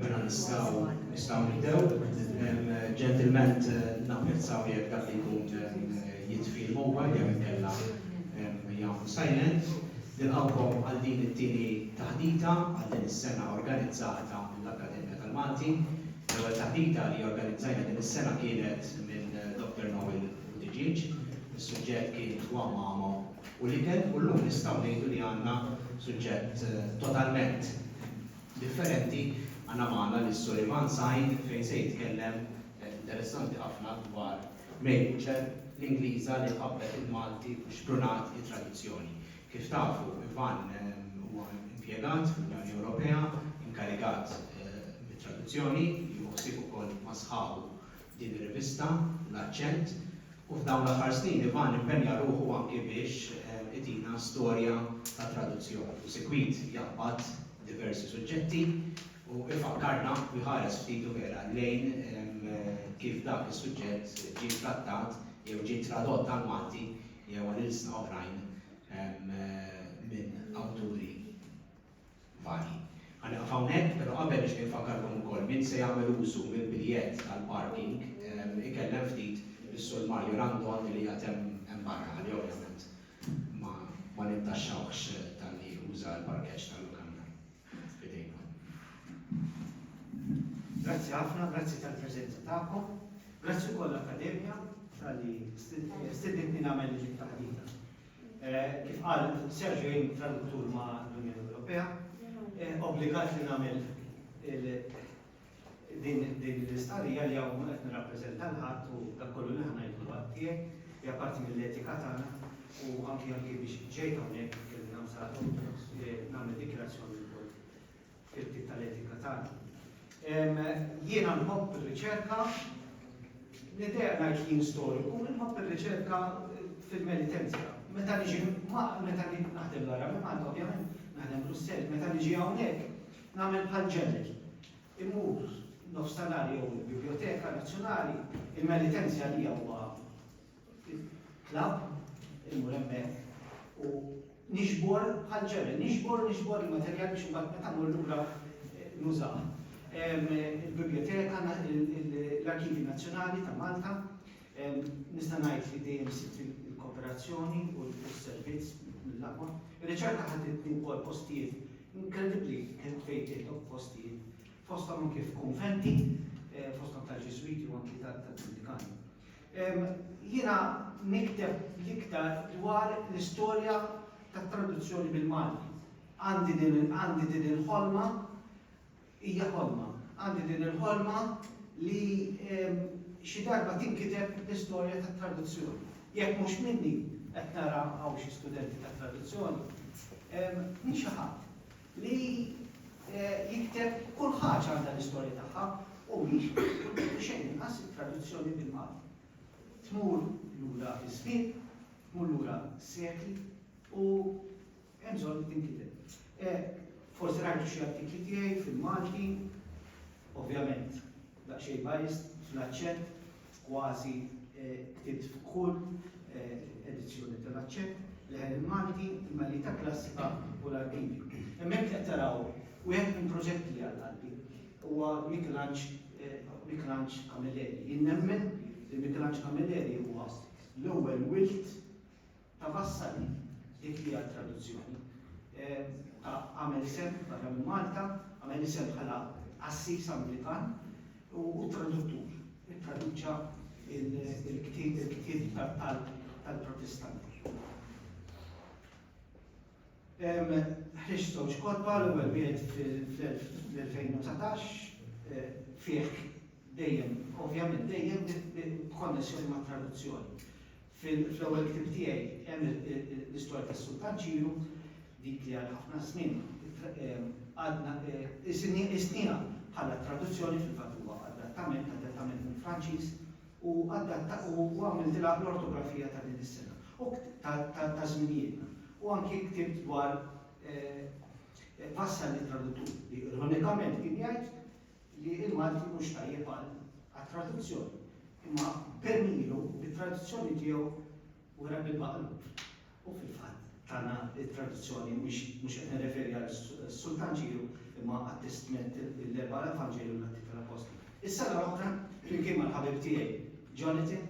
Mela nistgħu nistgħu nibdew. Ġentilment napprezzaw jekk dak li jkun jitfih mobile jew inkella jagħmlu silent. Nilqgħukom għal din it-tieni taħdita għal din is-sena organizzata mill-Akkademja tal-Malti. L-ewwel taħdita li organizzajna din is-sena kienet minn Doctor Noel ħdiġieġ, is-suġġett kien twam magħma u l-ikel u llum nistgħu ngħidu li għandna suġġett totalment differenti, għandna magħna lis-Sur Ivan Said fejn se jitkellem interessanti ħafna dwar Mary Butcher, l-Ingliża li ħabbet il-Malti u xprunat it-tradizzjoni. Kif tafu, Ivan huwa impjegat fl-Unjoni Ewropea, inkarigat mit-traduzzjoni, jieħu ħsieb ukoll ma' sħabu din ir-rivista, L-Aċċent, u f'dawn l-aħħar snin Ivan impenja ruħu anki biex itina storja ta' traduzzjoni u sikwit jaqbad diversi suġġetti u ifakkarna u jħares ftit u vera lejn kif dak is-suġġett ġie trattat jew ġie tradott għall-Malti jew għal ilsna oħrajn minn awturi varji. Ħa nieqaf hawnhekk, pero qabel nixtieq infakkarkom ukoll min se jagħmel użu mill-biljett tal-parking ikellem ftit lis-Sur Mario Randon li qiegħed hemm barra ħalli ovvjament ma nintaxxawhx talli uża l-parkeġġ tal-lukanda. F'idejkom. Grazzi ħafna, grazzi tal-preżenza tagħkom. Grazzi wkoll l-Akkademja talli stidintni nagħmel din it-taħdita. Kif qal Sergio jien traduttur ma' l-Unjoni Ewropea, obbligat li nagħmel din l-istqarrija li hawn mhux qed nirrappreżenta lil ħadd u dak kollu li ħa ngħid hu għadd tiegħi, hija parti mill-etika tagħna u anki anki biex ġejt hawnhekk kelli nagħmel dikjarazzjoni F'irti tal-etika tagħna. Jiena nħobb ir-riċerka, l-idea ngħid li jien storiku, nħobb ir-riċerka fil-penitenzja. Meta niġi meta naħdem l-ara minn Malta ovvjament, naħdem Brussell, meta niġi hawnhekk nagħmel bħal ġeneri. Immur nofs tal-għar jew il-Biblioteka Nazzjonali, il-penitenzja li huwa Tlab, imur hemmhekk u nixbor bħal ġebel, nixbor u nixbor il-materjal biex imbagħad meta mmur lura eh, nużaw. Il-biblioteka, l-Arkivi Nazzjonali ta' Malta, nista' ngħid li dejjem sitt il-kooperazzjoni u l-servizz mill-aqwa. Ir-riċerka ħaditni wkoll postijiet inkredibbli kien fejn tieħdok postijiet fosthom anke f'konventi, eh, fosthom tal-Ġiswiti u anke tal-Dominikani. Jiena nikteb l-iktar dwar l-istorja tat-traduzzjoni bil-Malti. Għandi din għandi din il-ħolma, hija ħolma, għandi din il-ħolma li xi darba tinkiteb l-istorja tat-traduzzjoni. Jekk mhux minni, qed nara hawn xi studenti tat-traduzzjoni, minn xi ħadd. li jikteb kull ħaġa għandha l-istorja tagħha u mhix bil-kultur u xejn inqas it-traduzzjoni bil-Malti. Tmur lura fiż-żmien, tmur lura s-sekli u hemm bżonn li tinkiteb. Forsi rajtu xi artikli tiegħi fil-Malti, ovvjament Daqsxejn biased fl-aċċett, kważi ktibt f'kull edizzjoni tal-aċċett, leħen il-Malti, il-Melita Klassika u l-Arkivi. Hemmhekk qed taraw wieħed minn proġetti li għal qalbi. Huwa Michelangelo Camilleri. Jien nemmen li Michelangelo Camilleri huwa l-ewwel wild ta' Vassalli, dik hija t-traduzzjoni, ta' għamel isem barra minn Malta, għamel isem bħala qassis Anglikan u traduttur, ittraduċa il-ktieb tal-Protestanti. Ħriġ żewġ kotba l-ewwel wieħed fl-2019 eh, fih dejjem, ovvjament dejjem b'konnessjoni ma' traduzzjoni. Fl-ewwel ktieb tiegħi hemm l-istorja tas-Sultan Ċiru, dik li għal ħafna żmien għadna qisniha bħala traduzzjoni, fil-fatt huwa adattament, adattament mill-Franċiż, u għamiltilha l-ortografija ta' din is-sena, ta' żminijietna. U anki ktibt dwar Vassalli Traduttur, li ironikament kien jgħid, li l-Malti mhux tajjeb għat-traduzzjoni, imma b'għemmilu, bit-traduzzjoni tiegħu wera bil-maqlub. U fil-fatt tana t-traduzzjoni, mhux qed nirreferi għas-Sultan Ġieħu, imma għat-Testment, l-Erba' Evanġelji u l-Atti tal-Appostli. Is-sena l-oħra, flimkien mal-ħabib tiegħi Jonathan,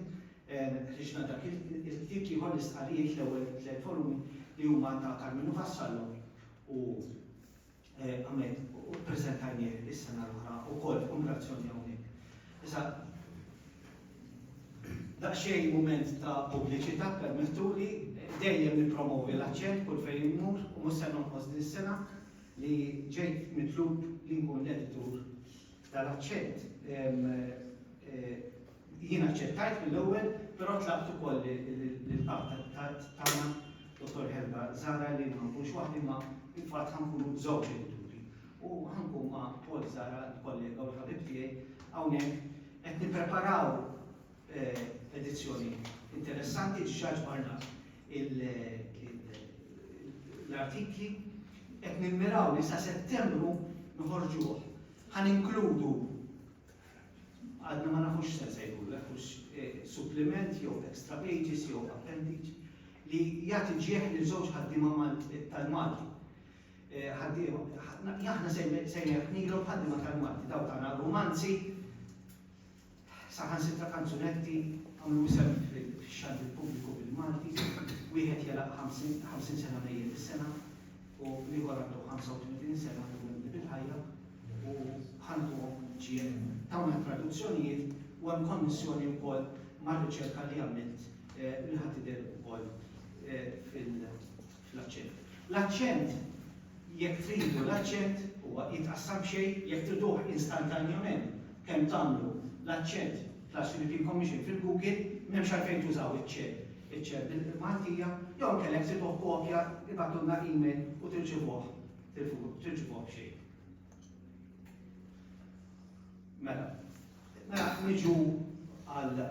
ħriġna dak il-ktieb ieħor, l-Istqarrijiet, l-ewwel tliet volumi li huma ta' Karmenu Vassallo u Ahmed, u ppreżentajnieh is-sena l-oħra wkoll f'kummemorazzjoni hawnhekk. Issa, daqsxejn mument ta' pubbliċità ppermettuli, dejjem nippromovi l-aċċent kull fejn immur u mhux se nonqos din is-sena li ġejt mitlub li nkun l-editur tal-aċċent. Jien aċċettajt mill-ewwel, però tlabt ukoll lill-Kap tagħna, Dottor Helga Zahra, li ma nkunx waħdi imma fil-fatt ħa nkunu żewġ edituri. U ħa nkun ma' Paul Zahra, l-kollega u l-ħabib tiegħi, hawnhekk qed nippreparaw edizzjoni interessanti, diġà ġbarna l-artikli, qed nimmiraw li sa Settembru noħorġuh. Ħa ninkludu Għadna ma nafux x'se nsejħulu hekk, hux suppliment jew extra pages jew appendage, li jagħti ġieħ lil żewġ ħaddiema tal-Malti. Ħaddiema, aħna sejjaħnilhom ħaddiema tal-Malti, dawk tagħna r-rumanzi, saħansitra kanzunetti, għamlu isem fix-xandir pubbliku bil-Malti, wieħed jegħlaq 50 sena mejjet is-sena, u l-ieħor għandu 35 sena li jkun qdi bil-ħajja u ħantuhom GNM. Dawn it-traduzzjonijiet u hemm konnessjoni wkoll mar-riċerka li għamilt li ħa tidher ukoll fil-aċċent. L-aċċent jekk tridu l-aċċent huwa jitqassam xejn jekk triduh instantanjament kemm tagħmlu l-aċċent Class European Commission fil-Google m'hemmx għalfejn tużaw iċ-ċ iċ-ċekk din il-Maltija jew inkella jekk triduh kopja ibagħtulna email u tirċivuh tilfuq tirċivuh b'xejn. Mela, mela niġu għal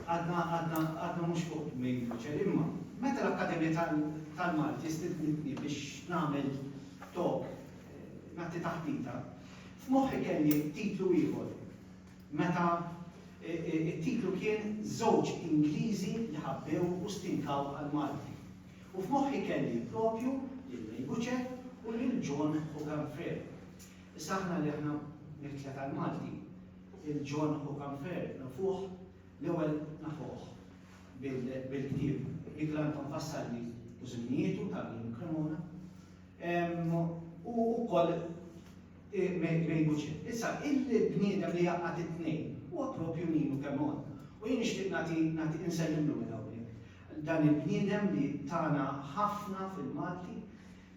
għadna għadna għadna mhux fuq mejn fuċer imma meta l-Akkademja tal-Malti stidnitni biex nagħmel tok eh, nagħti taħdita, f'moħħi kelli titlu ieħor meta t-titlu kien Żewġ Ingliżi li ħabbew u stinkaw għall-Malti. U f'moħħi kelli proprju lil May Butcher u lil John Hogan Frere. Issa aħna li aħna mill-Klet tal-Malti, lil John Hogan Frere nafuh, l-ewwel nafuh bil-ktieb li Glanton fassalli u żminietu ta' Lynn Cremona, u wkoll, Mary Bucet, Issa, il-bniedem li jgħaqqad it-tnejn huwa proprju Ninu Chemon. U jien nixtieq nagħti, nagħti, insellimlu minn hawnhekk. Dan il-bniedem li tana ħafna fil-Malti,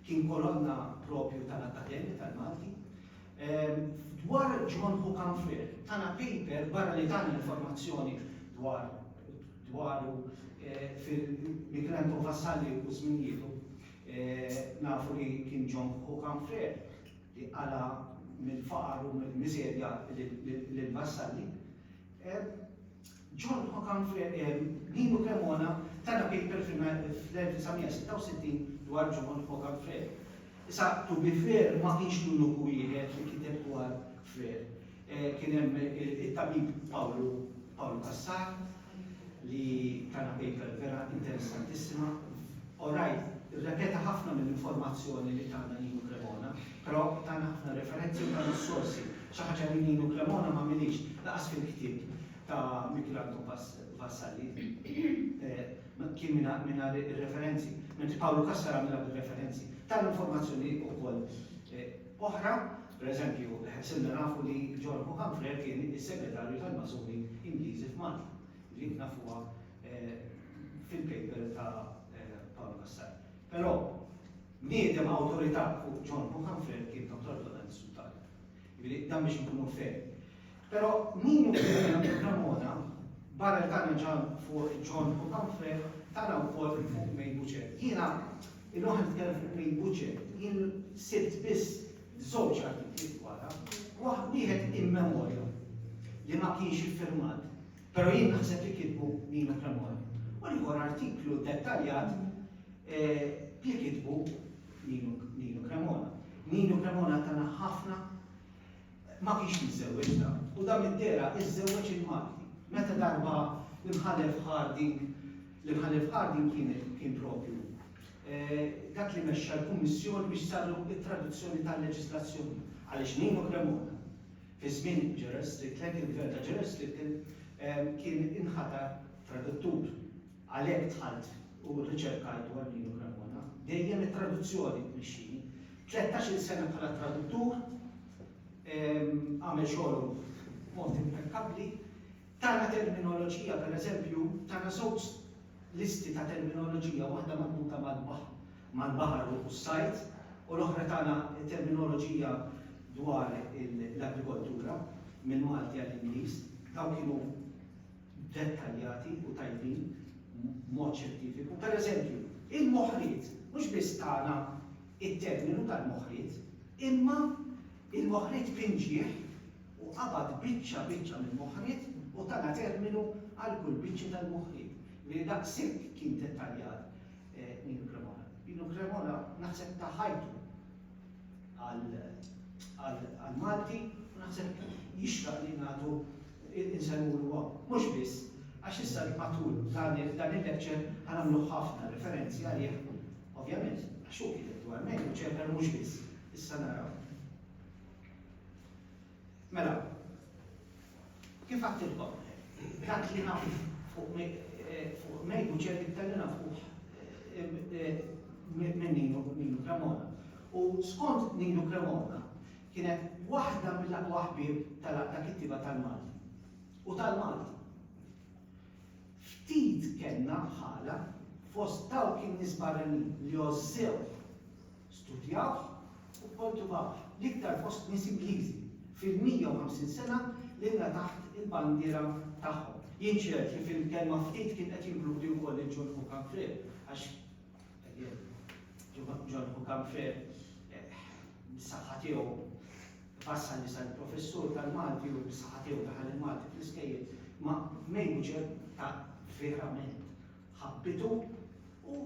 kien kolonna proprju tal-Akkademja tal-Malti. Dwar John Hook and Frere, tana paper, barra li tani informazzjoni dwar, dwaru fil, Michelangelo Vassalli u żminijietu, nafu li kien John Hook and Frere, li qala' mill-faqar u mill-miżerja lill-vassalli, John Hockham Nino Cremona ta na paper fl-1966 dwar John Hockham Frere. Issa, to be fair, ma kienx l-uniku wieħed li kiteb dwar Frere. Kien hemm it-tabib Pawlu Pawlu Cassar li tana paper vera interessantissima. Orajt, irrepeta ħafna mill-informazzjoni li tana Nino Cremona, però tana ħafna referenzi u tana s-sorsi, xi ħaġa li Nino Cremona ma għamilhiex lanqas fil-ktieb ta' Michelangelo Vassalli. Kien mingħajr ir-referenzi, mentri Pawlu Cassar għamilha bir-referenzi. Tana informazzjoni wkoll. oħra. Pereżempju, silna nafu li John O'Humphrey kien is-Segretarju tal-Masuni Ingliżi f'Malta, dik nafuha fil-paper ta' Paolo Cassar. Però, bniedem awtorità fuq John O'Humphrey kien Dottor Donald Sutalja. Jiġifieri, dan biex inkunu fair. Però min hu William de Cremona, barra li tana ġa fuq John u Humphrey, tana wkoll fuq May Butcher. Jiena, illum qed nitkellem fuq May Butcher, jien sibt biss żewġ artikli dwarha, waħ, wieħed in memoriam li ma kienx iffirmat, però jien naħseb li kitbu Nino Cremona, u l-ieħor artiklu dettaljat li kitbu Nino Cremona. Nino Cremona tana ħafna Ma kienx miżżewweġna u dan middera żżewweġ il-Malti. Meta darba l-Imħallef Harding, l-Imħallef Harding kien kien proprju dak li mexxa l-kummissjoni biex saru t-traduzzjoni tal-leġislazzjoni, għaliex Nino Cremona fi żmien Gerald Strickland, il-Gvern ta' Gerald Strickland, kien inħatar traduttur. Għalhekk dħalt u rriċerkajt dwar Nino Cremona. Dejjem it-traduzzjoni tmexxini. Tlettax-il sena bħala traduttur, għamel xogħlu b'mod impekkabbli. Tana terminoloġija, pereżempju, tana żewġ listi ta' terminoloġija, waħda marbuta mal-baħar u s-sajd, u l-oħra tana terminoloġija dwar l-agrikoltura, mill-Malti għall-Ingliż. Dawn kienu. dettaljati u tajbin b'mod xjentifiku. Pereżempju, il-moħriet, mhux biss tana t-terminu tal-moħriet, imma il-moħriet b'inġieħ u qabad biċċa biċċa mill-moħriet u tana terminu għal kull biċċa tal-moħriet. Jiġifieri daqshekk kien dettaljat Nino Cremona. Nino Cremona naħseb ta ħajtu għall-Malti u naħseb jixraq li nagħtu insellmu lil Bob. Mhux biss, għax issa matul dan il-lecture ħa nagħmlu ħafna referenzi għalih, ovvjament, għax hu kiteb dwar Mary u ċerta li mhux biss, issa naraw. Mela, kif għattilkom, dak li naf fuq Mary u ċerti iktar li naf fuq minn Nino Cremona. U skont Nino Cremona, Kienet waħda mill-aqwa ħbieb tal-Għaqda Kittieba tal-Malti u tal-Malti. Ftit kellna bħalha fost dawk in-nies barranin li għożżewh, studjawh u kkoltivawh, l-iktar fost nies Ingliżi fil-150 sena lilna taħt il-bandiera tagħhom. Jien ċert li fil-kelma ftit kien qed jinkludi wkoll lil John Hook Humphrey għax John Hucam Frere bis-saħħa tiegħu fassal li sar professur tal-Malti u bis-saħħa tiegħu daħal il-Malti fl-iskejjel ma' mejju ġer ta' verament ħabbitu u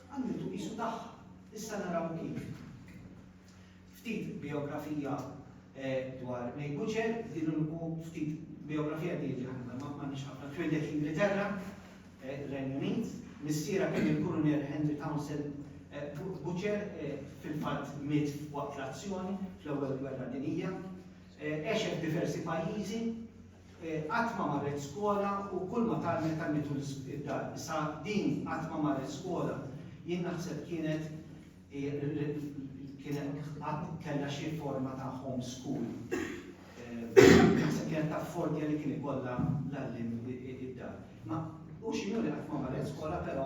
għamlitu qisu tagħha. Issa naraw kif. Ftit bijografija dwar May Butcher, u ftit bijografija di jiġri aħna ma m'għandniex ħafna. Twieldet l-Ingilterra, Renju Unit. Missierha kien il-Kulunel Henry Townsend Butcher, fil-fatt miet waqt l-azzjoni fl-Ewwel Gwerra Dinjija. Għexet f'diversi pajjiżi, qatt ma marret skola u kull ma tgħallmet tgħallmitu id-dar. Issa din qatt ma marret skola jien naħseb kienet kien hemm qatt kellha xi forma ta' home school. Naħseb kienet taf f'ordja li kien ikollha l-għalliem id-dar. Ma u x'inhu li qatt ma marret skola però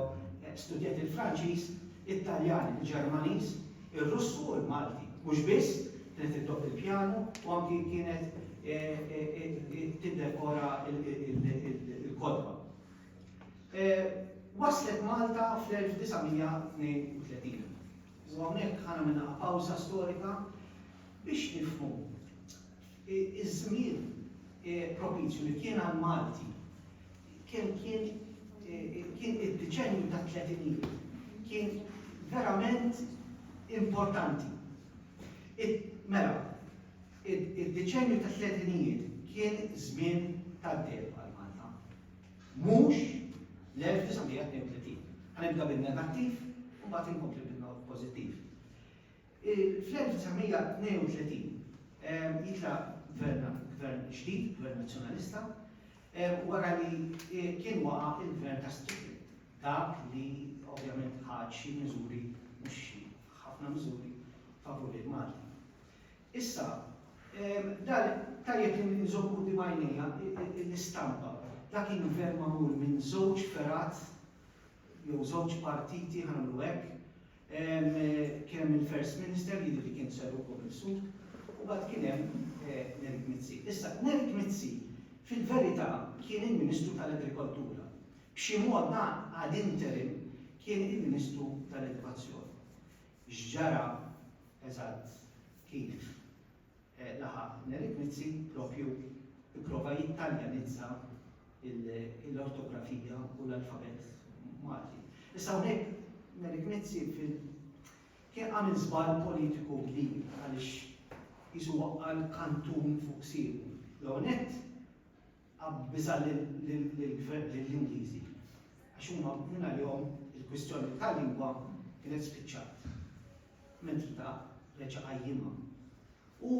studjat il-Franċiż, it-Taljan, il-Ġermaniż, ir-Russu u l-Malti. Mhux biss, kienet iddoqq il-pjanu u anki kienet tiddekora l-kotba. Waslet Malta fl-1932 u hawnhekk ħa nagħmel daqqa pawża storika biex nifhmu iż-żmien propizju li kien għall-Malti kemm kien kien id-deċennju tat-tletinijiet kien verament importanti. Mela, id-deċennju tat-tletinijiet kien żmien tad-deheb għal Malta. Mhux l-1932. Ħa nibda bin-negattiv u mbagħad inkompli bil-pożittiv. Fl-1932 jitlaq gvern gvern ġdid, gvern Nazzjonalista, wara li kien waqa' il-gvern ta' Strickland, dak li ovvjament ħa xi miżuri, mhux xi, ħafna miżuri favur il-Malti. Issa, dan, tajjeb li nżomm quddiem għajnejja l-istampa. Dak kien gvern magħmul minn żewġ fergħat jew żewġ partiti, ħa nagħmlu hekk, kien hemm il-First Minister, jidher li kien Sir Ugo Bilsud, u mbagħad kien hemm Nerik Mizzi. Issa, Nerik Mizzi fil-verità kien il-Ministru tal-Agrikoltura. B'xi mod dan ad interim kien il-Ministru tal-Edukazzjoni. X'ġara eżatt kif laħaq Neliknici proprju pprova jittaljanizza l-ortografija u l-alfabett Malti. Issa hawnhekk Neliknici kien għamel żball politiku kbir għaliex qisu waqqa' l-kantun fuq siequ. L-ewwel nett, Biża' lill-Ingliżi għax huma mingħajrhom il-kwistjoni tal-lingwa kienet spiċċat. Mentri ta' reġa' qajjimha. U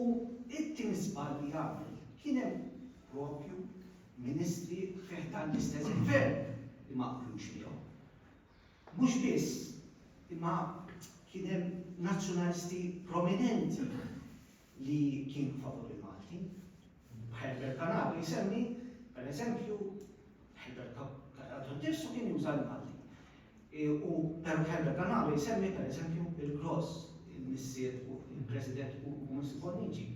t-tieni żball li għamel kien hemm proprju ministri fi ħdan l-istess gvern li ma qbilux miegħu. Mhux biss, imma kien hemm nazzjonalisti prominenti li kienu favur il-Malti. Herbert Canapi jsemmi, per eżempju, Herbert Canapi nnifsu kien juża l-Malti. U Herbert Canapi jsemmi, per eżempju, il-Gross, il-missier u il-President u Mr. Bonnici.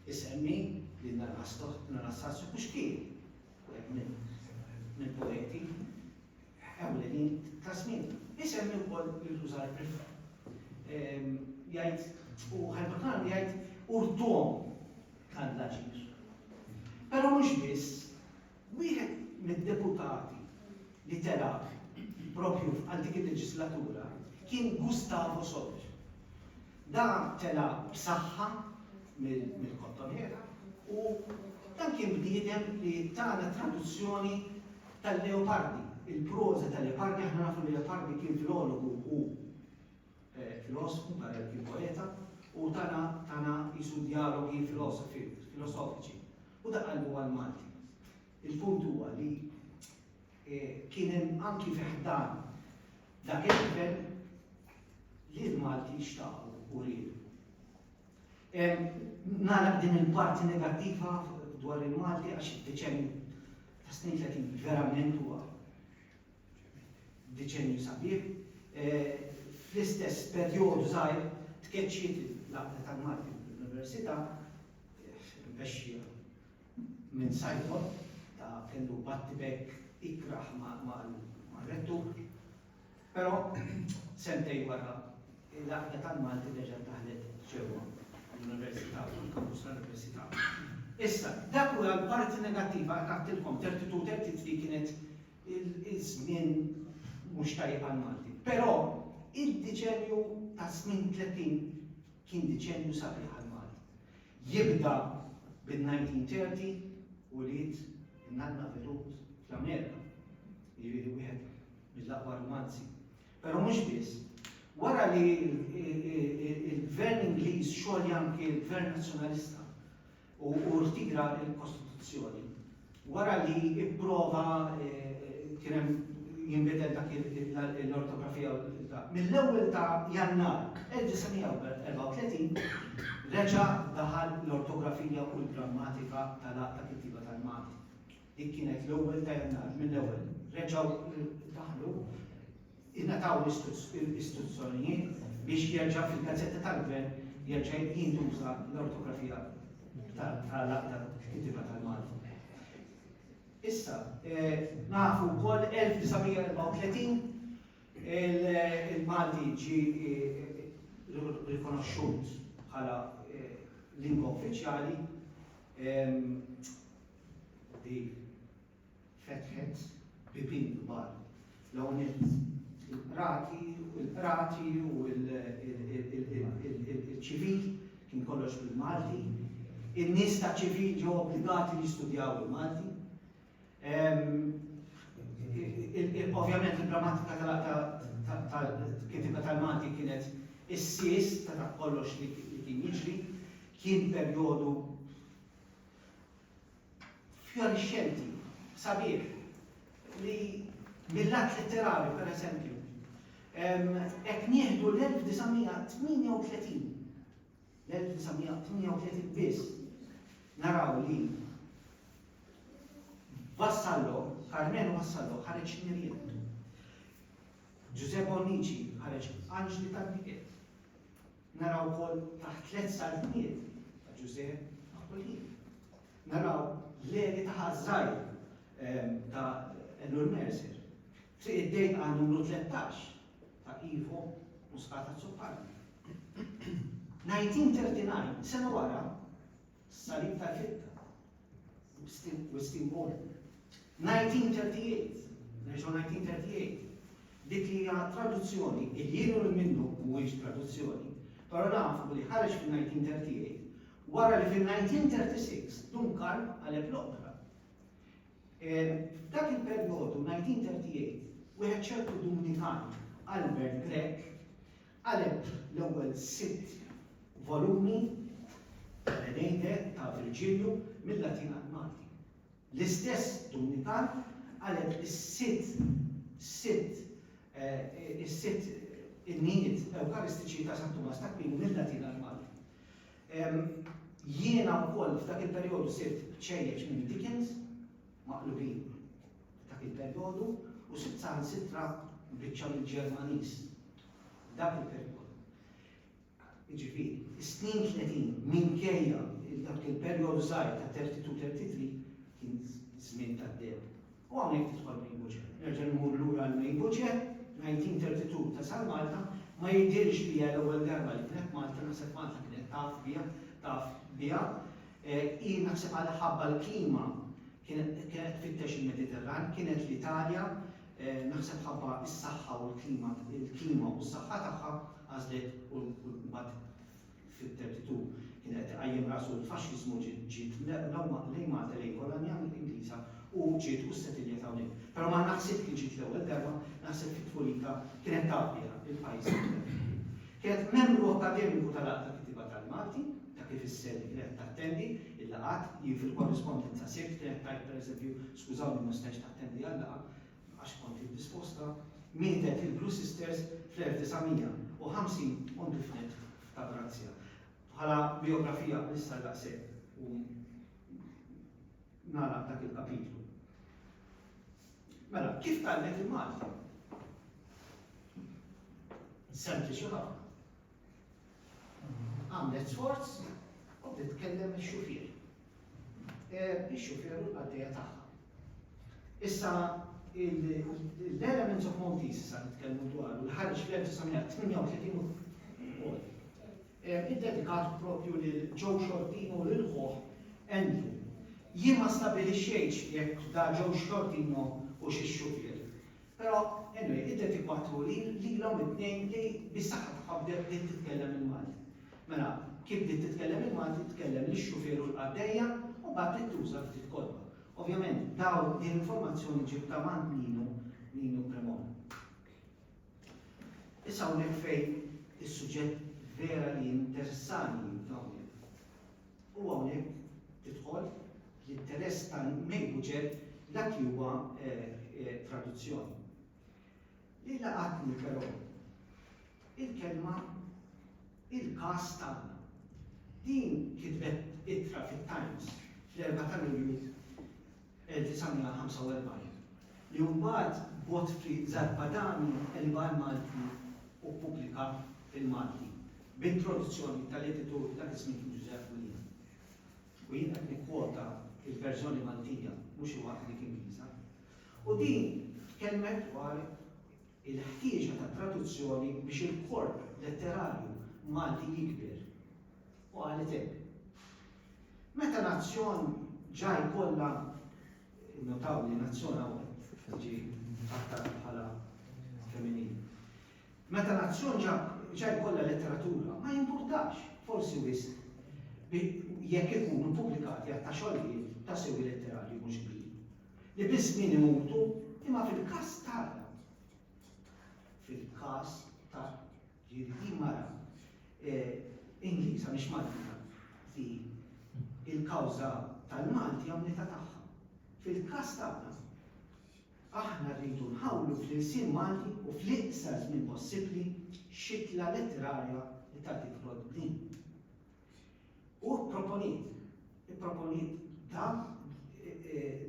Isemmi li Narastoh, Narassassio Puxkin, wieħed mill-poeti, Ħakam li din ta' żmien. Isemmi wkoll li tuża l-riffa. Jgħid u Ħal-Batan jgħid urtuhom dan l-aġir. Però mhux biss, wieħed mid-deputati li telaq propju għal dik il-leġislatura kien Gustavo Sotto. Da tela' b'saħħa mill-kottonera u dan kien bniedem li tana traduzzjoni tal-Leopardi, il-proża ta' Leopardi, aħna nafu li Leopardi kien filologu u filosfu barra li kien poeta u tana tana qisu djalogi filosofi, filosofiċi u da qalbu għall-Malti. Il-punt huwa li Kien hemm anki fi ħdan dak il-Gvern li l-Malti jixtaqu u riedu. Nagħlaq din il-parti negattiva dwar il-Malti għax id-deċenju ta' snin 30 verament huwa deċenju sabiħ. Fl-istess perjodu żgħir tkeċċiet l-għaqda tal-Malti fl-Università, mexxija Minn Simon, ta' kellu battibekk ikrah mar-rettur. Però, sentejn wara, l-Għaqda tal-Malti reġgħet daħlet ġewwa l-Università, fuq il-kampus tal-Università. Issa, dak hu l-parti negattiva, qed ngħidilkom, Thirty Two, Thirty Three kienet iż-żmien mhux tajjeb għall-Malti. Però, id-deċennju tas-snin tlettin kien deċennju sabiħ għall-Malti. Jibda bin-1930 u ulied in-nanna Virut fl-Amerika, jiġifieri wieħed mill-aqwa rumanzi. Però mhux biss. Wara li l-Gvern Ingliż xogħli anki l-Gvern Nazzjonalista u rtira l-Kostituzzjoni, Wara li pprova kien hemm jinbidel dak l-ortografija u l-qrita, mill-ewwel ta' Jannar 1934 reġa' daħal l-ortografija u l-grammatika tal-Għaqd ta' Kittieba tal-Malti. Dik kienet l-ewwel ta' Jannar, mill-ewwel reġgħu daħlu. ingħataw l-istruzzjonijiet biex jerġa' fil-gazzetta tal-Gvern jerġa' jintuża l-ortografija tal-kittieba tal-Malti. Issa, nafu wkoll 1934 il-Malti ġi rikonoxxut bħala lingwa uffiċjali di fetħet bibien kbar. L-ewwel nett il-qrati, il-qrati u il-ċivil kien kollox bil-Malti. In-nies ta' ċivil ġew obbligati li jistudjaw il-Malti. Ovvjament il-grammatika tal-kitba tal-Malti kienet is-sis ta' dak kollox li kien jiġri, kien perjodu fjorixxenti, sabiħ, li mill-lat litterarju, per eżempju, qed nieħdu l-1938, l-1938 biss, naraw li Vassallo, Carmenu Vassallo, ħareġ Mirjam. Giuseppe Onici ħareġ Anġli tal-Biket. Naraw ukoll taħt tliet saltniet ta' Ġużè Aquilini. Naraw l-għeni ta' ħaż-żgħir ta' Ellul Mercer. Triq id-dejqa numru 13 ta' Ivo Muscat Azzopardi. 1939, sena wara, Salib tal-ħitta u s-simbolu. 1938, nerġgħu 1938, dik li hija traduzzjoni, il-jien u l-minnu mhuwiex traduzzjoni, però nafu li ħareġ fin-1938 wara li fin-1936 Dun Karm qaleb l-oqbra. F'dak il-perjodu, 1938, wieħed ċertu Dumnikan, Albert Grech, Qaleb l-ewwel sitt volumi tal-Eneide ta' Virġilju mil-Latin għall-Malti. L-istess Dumnikan qaleb is-sitt sitt is-sitt innijiet Ewkaristiċi ta' San Tumas t'Akwinu mil-Latin għall-Malti. Jiena wkoll f'dak il-perjodu sirt ċejjeċ minn Dickens, maqlubin. F'dak il-perjodu, u saħansitra biċċa mill-Ġermaniż f'dak il-perjodu, jiġifieri, is-snin tletin, minkejja li dak kien perjodu żgħir ta' terty two, terty three, kien żmien tad-deheb. U hawnhekk tidħol May Buġe. Nerġa' mmur lura għal May Buġe, 1932 tasal Malta, ma jidhirx li hija l-ewwel darba li kienet Malta, naħseb Malta kienet taf biha, taf biha. Hi naħseb għal ħabba l-klima Kienet kienet tfittex il-Mediterran, kienet l-Italja, naħseb ħabba s-saħħa u l-klima l-klima u s-saħħa tagħha għażlet u mbagħad fit-32 kien qed iqajjem rasu l-faxxiżmu ġiet ġiet lejn Malta lejn kolonja Ingliża u ġiet u ssetiljet hawnhekk. Però ma naħsibx li ġiet l-ewwel darba, naħseb fi tfulitha kienet taf biha l-pajjiż li kienet qed tmur. Kienet membru akkademiku tal-Għaqda Kittieba tal-Malti. ta' kif is-SEL qiegħed tattendi l-laqgħat, li fil-korrispondenza sirt kienet tgħid pereżempju, skużawni ma stajtx nattendi għal-laqgħa għax kont indisposta, mietet il-Blue Sisters fl-1950 u ndifnet f'Ta' Grazzja. Bħala bijografija nista' daqshekk u nagħlaq dak il-kapitlu. Mela, kif tgħallmet il-Malti? Sempliċi ħafna. għamlet sforz u bdiet tkellem ix-xufier. Ix-xufier u l-qaddejja tagħha. Issa l-Elements of Maltese sa nitkellmu dwar u l-ħarġ fl-1938 id-dedikat propju lil Joe Shortino u lil ħuħ Andrew. Jien ma stabilixxejtx jekk da Joe Shortino u xi xufier. Però, anyway, iddew tikwatru lilhom it-tnejn li bis-saħħa tagħha bdew bdiet titkellem il-Malti. Mela, kif bdiet titkellem il-Malti tkellem lix-xufier u l-qaddejja u mbagħad bdiet tuża ftit kotba. Ovvjament, dawn din l-informazzjoni ġibtha m'għand Nino, Nino Cremona. Issa hawnhekk fejn is-suġġett vera li jinteressani f'dawn u hawnhekk tidħol l-interess tal-mejbuġet dak li huwa traduzzjoni. Li laqatni però il-kelma il-każ tagħna. Din kitbet ittra fit-Times fl-4 ta' Lulju 1945, li mbagħad Godfrey Zarpadanu qlibha għall-Malti u ppubblika fil-Malti, b'introduzzjoni tal-editur dak iż-żmien Ġużepp William. U jien qed nikkwota l-verżjoni Maltija, mhux il-waħda dik Ingliża. U din tkellmet dwar il-ħtieġa ta' traduzzjoni biex il-korp letterarju Malti jikber, u qalet hekk, Meta nazzjon ġa jkollha, innotaw li nazzjon hawn ġie mħattar bħala femminili, meta nazzjon ġa jkollha letteratura, ma jimpurtax, forsi wisq, jekk ikunu ppubblikati għadd ta' xogħlijiet ta' sewi letterarju mhux kbir. li biż-żmien imutu, imma fil-każ tagħna, fil-każ ta' ġieli din mara Ingliża mhix Maltija li l-kawża tal-Malti hija unità tagħha. Fil-każ tagħna, aħna rridu nħawlu fl-ilsien Malti u fl-iqsar żmien possibbli xitla letterarja li tgħaddi fl-għodbnin. u pproponiet, ipproponiet dan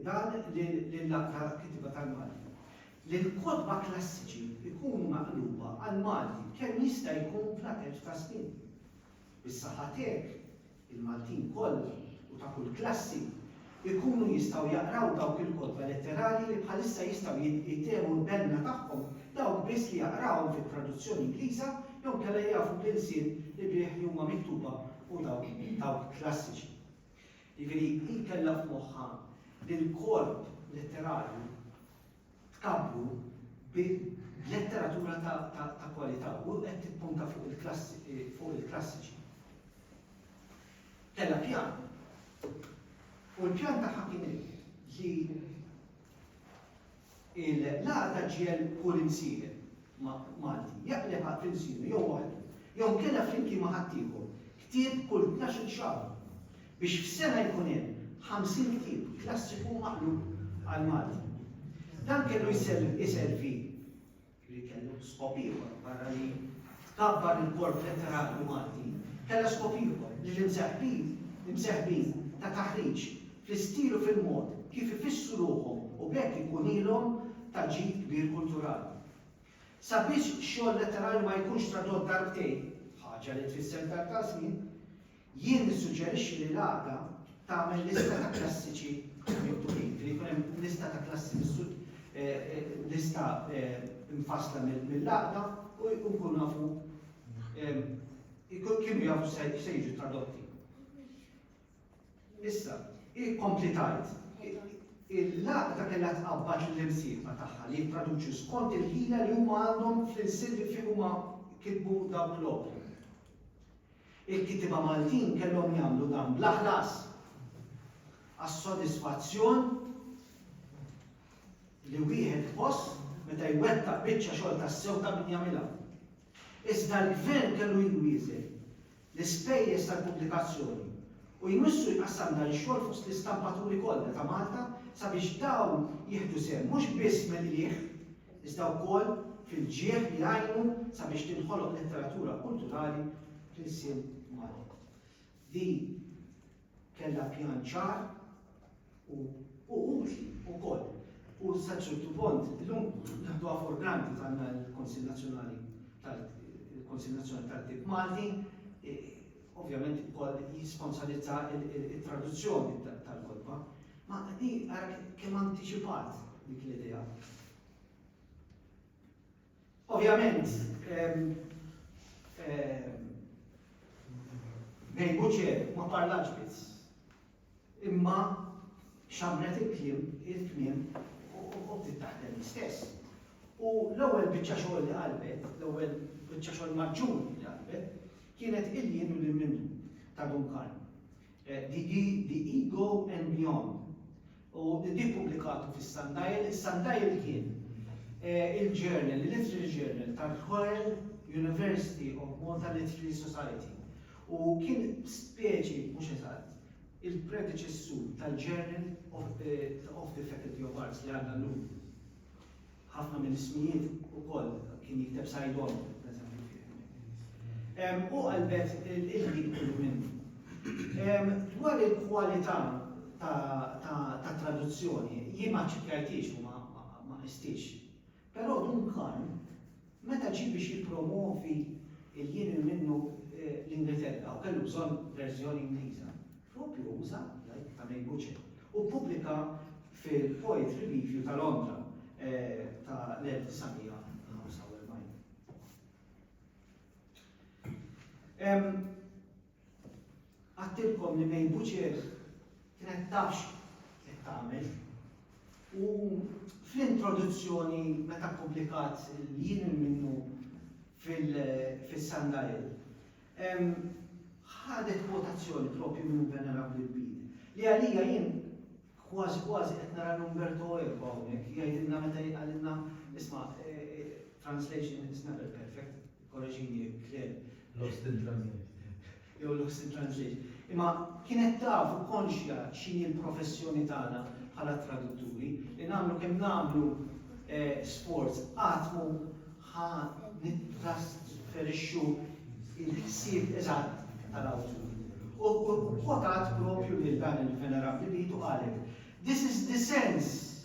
dan lill-Laqda Kittieba tal-Malti li l-kotba klassiċi jkunu maqluba għall-Malti kemm jista' jkun fl-ateġ ta' snin. Bis-saħħa tiegħek, il-Maltin kollha u ta' kull klassi ikunu jistgħu jaqraw dawk il-kotba letterali li bħalissa jistgħu jitgħu l-benna tagħhom dawk biss li jaqrawhom fit-traduzzjoni Ingliża jew inkella jafu bl-ilsien li bih li huma miktuba u dawk dawk klassiċi. Jiġifieri, hi kellha f'moħħha li l-korp letterali tkabbru bil-letteratura ta' kwalità u qed tippunta fuq il-klassiċi. Kellha pjan. U l-pjan tagħha kien li l-għar ta' ġiel kull imsieħeb Malti jaqleb għal tilsinu jew waħdu jew kellha flimkien ma' ħaddieħor ktieb kull tnax-il xahar biex f'sena jkun hemm 50 ktieb klassiku maqlub għall-Malti. Dan kellu jservi, li kellu skop ieħor barra li tkabbar il-korp letterarju Malti, kellha skop ieħor li l-imseħbin imseħbin ta' taħriġ fl-istil u fil-mod kif ifissru ruħhom u b'hekk ikunilhom ta' ġid kbir kulturali. Sabiex xogħol letterarju ma jkunx tradott darbtejn, ħaġa li tfisser telf ta' żmien, Jien nissuġġerixxi li l-għaqda tagħmel lista ta' klassiċi miktubin, li jkun hemm lista ta' klassi lista mfassla mill-għaqda u nkunu nafu kienu jafu se jiġu tradotti. Issa, kompli tajt, il-laqda kellha tqabbad lill-imsieħba tagħha li jittraduċu skont il-ħila li huma għandhom fl-ilsien li fih huma kitbu dawk l-opri. Il-kittieba Maltin kellhom jagħmlu dan bla ħlas, għas-sodisfazzjon li wieħed iħoss meta jwettaq biċċa xogħol tassew ta' min jagħmilha. Iżda l-Gvern kellu jwieżen l-ispejjeż tal-pubblikazzjoni u jmissu jqassam dan ix-xogħol fost l-istampaturi kollha ta' Malta sabiex dawn jieħdu sehem mhux biss mill-qligħ, iżda wkoll fil-ġieħ li għajnu sabiex tinħoloq letteratura kulturali fl-ilsien Malti. Din kellha pjan ċar u utli wkoll u sa ċertu punt illum naħduha for granted għandna l-Kunsill Nazzjonali tal-Kunsill Nazzjonali tal-Ktieb Malti ovvjament ukoll jisponsorizza t-traduzzjoni tal-kotba. Ma hi ara kemm antiċipat dik l-idea. Ovvjament, Mary Butcher ma parlax biss, imma xammret il-kliem, il-kmiem u bdiet taħdem hi stess. U l-ewwel biċċa xogħol li qalbet, l-ewwel biċċa xogħol maġġur li qalbet, kienet Il-Jien u Lil Minnu ta' Duncan. Di hi The Ego and Beyond u di ppubblikatu fis-Sundial. Is-Sundial kien il-journal, il-literary journal tal-Royal University of Malta Literary Society u kien speċi, mhux eżatt, il-predeċessur tal-Journal of the Faculty of Arts li għandna llum. ħafna mill-ismijiet ukoll kien jikteb Saidon, pereżempju fih. U qalbet il-ħin kollu minnu. Dwar il-kwalità ta' traduzzjoni, jien ma ċċekkjajtix u ma qistix. Però Duncan Meta ġie biex jippromwovi l-jien il-minnu l-Ingilterra u kellu bżonn verżjoni Ingliża, proprju uża, jgħid Tamei Buche, u ppubblika fil-Poetry Review ta' Londra ta' l-1945. Għedtilkom li May Buċieħ kienet taf x'qed tagħmel u fl-introduzzjoni meta ppubblikat il-Jien il-Minnu fis-Sundial, ħadet kwotazzjoni proprju minn Venerabbli l-Bid, li għalija jien kważi kważi qed nara l-Umberto Eco hawnhekk jgħidilna meta qalilna, isma' translation is never perfect. Korreġini jekk Claire lost in translate jew lost in translation. Imma kienet taf u konxja x'inhi l-professjoni tagħna bħala tradutturi li nagħmlu kemm nagħmlu eh, sports qatt mu ħa nittrasferixxu il-ħsieb eżatt tal-awtur. U kwotat propju lil dan il-venerabbli li jitu qalet, This is the sense